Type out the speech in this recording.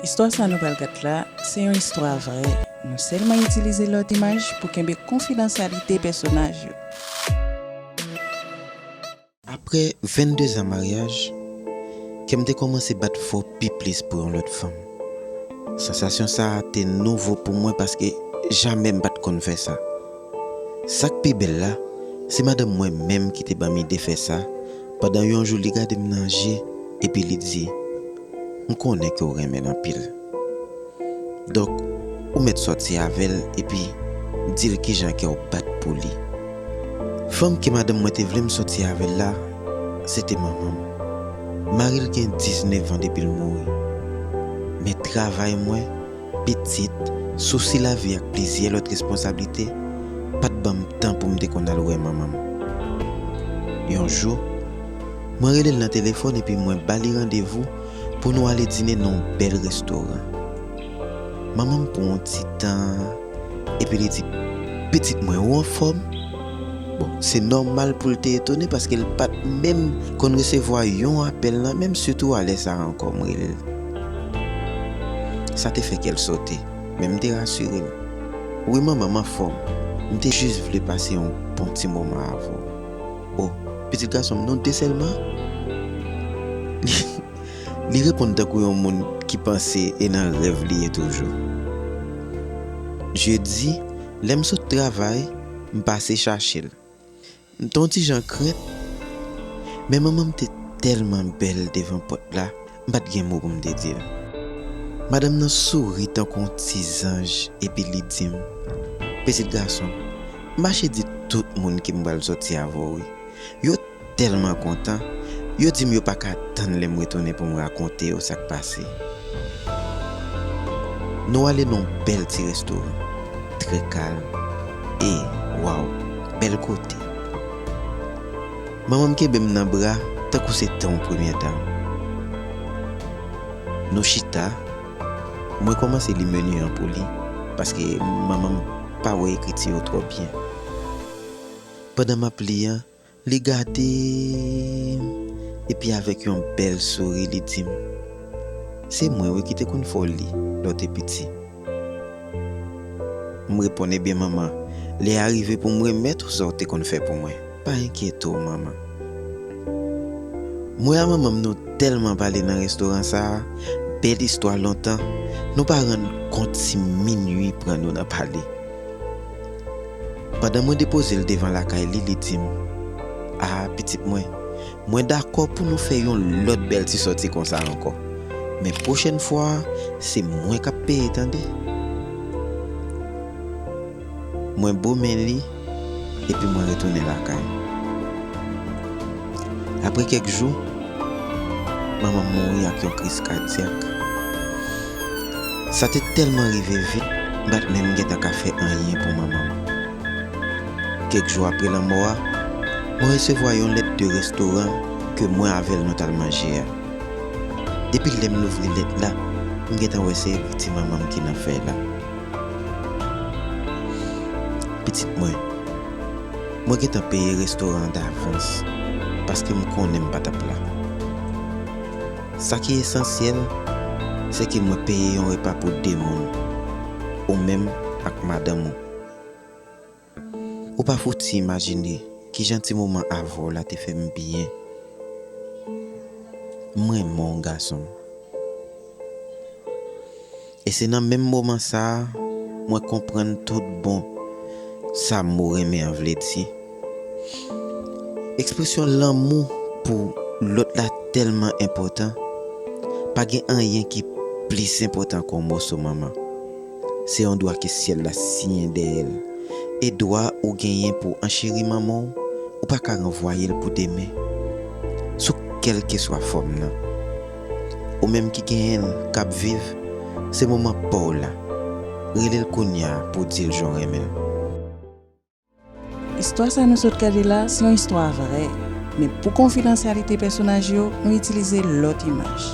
Istwa sa nou pral gad la se yon istwa vrè, nou sèlman itilize lòt imaj pou kenbe konfidansyalite pèsonaj yo. Aprè 22 zan maryaj, kè m te kòmanse bat fò pi plis pou yon lòt fanm. Sansasyon sa a te nouvo pou mwen paske jamè m pa t konn fè sa. Sa k pi bèl la, se madanm mwen menm ki te ban m ide fè sa, Pandan yon jou li gade m nan je epi li di, M konnen ke w renmen l anpil. Donk, ou mèt sòti avè l epi di l kijan kè w bat pou li. Fanm ke madanm mwen te vle m sòti avè l la, se te manman m. Mari l gen diznevan depi l mouri. Men travay mwen. Pitit, sousi lavi ak plizyè lòt responsablite pa t ban m tan pou m te konn al wè manman m. Yon jou, mwen rele l nan telefòn epi mwen ba li randevou pou nou ale dine nan yon bèl restoran. Manman m pran yon ti tan epi li di, Pitit mwen, ou anfòm? Bon, se nòmal pou l te etone paske l pa t menm konn resevwa yon apèl nan men m sitou alè sa a ankò. M rele l. Sa te fè kè l sote, men m te rasire l. Wi manman, m anfòm. M te jis vle pase yon bon ti moman avè w. O, pitit gason m non te sèlman? Li reponn tankou yon moun ki panse e nan rèv li ye toujou. Jedi, lè m sot travay, m pase chache l. M te on ti jan krent, men manman m te tèlman bèl devan pòt la, m pa t gen mo pou m te di l. Madanm nan souri tankou on ti zanj epi li di m, Pitit gason, mache di tout moun ke m pral sòti avè w wi. Yo tèlman kontan, yo di m yo pa ka tann lè m retounen pou m rakonte yo sa k pase. Nou ale nan on bèl ti restoran, trè kalm. E waw bel kote. Manmanm kenbem nan bra tankou se tanw premyè dam. Nou chita, mwen komanse li menu an pou li paske manmanm pa wè ekriti yo twò byen. Pandan map li an. Li gade m, epi avèk yon bèl souri li di m, Se mwen wi ki te konn fè w li lè w te piti. M reponn, Ebyen manman, lè a rive pou m remèt ou sa w te konn fè pou mwen. Pa enkyete w manman. Mwen a manman m nou tèlman pale nan restoran sa a, bèl istwa lontan, nou pa rann kont si minui pran nou nan pale. Pandan mwen depoze l devan lakay li, li di m, A, pitit mwen, mwen dakò pou nou fè yon lòt bèl ti sòti konsa ankò, men pwochèn fwa a, se mwen k ap peye tande. Mwen bo men li epi mwen retounen lakay. Apre kèk jou, manman m mouri ak yon kriz kadyak. Sa te tèlman rive vit, m pa t menm gentan ka fè anyen pou manman m. Kèk jou apre lanmò a, mwen resevwa yon lèt de restoran ke mwen avè l nou t al manje a. Depi lè m louvri lèt la, m gentan wè se ekriti manman m ki nan fèy la, Pitit mwen. Mwen gentan peye restoran an davans paske m konnen m pa t ap la. Sa ki esansyèl, se ke mwen peye yon repa pou de moun, ou menm ak madanm ou. Ou pa fouti imajine kijan ti moman avè w la te fè m byen. M renmen w, gason m. E se nan menm moman sa a mwen konprann tout bon sa mo renmen an vle di. Ekspresyon lanmou pou lòt la tèlman enpòtan, pa gen anyen ki plis enpòtan ke yon moso manman. Se yon dwa ke syèl la siyen dèyè l, e dwa ou genyen pou w ancheri manman w, ou pa ka ranvwaye l pou demen, sou kèlkeswa fòm nan. Ou menm ki genyen l k ap viv Se moman pa w la Rele l kounya pou w di l jan w renmen l. Istwa sa nou sot gade la se yon istwa vrè, men pou konfidansyalite pèsonaj yo nou itilize lòt imaj.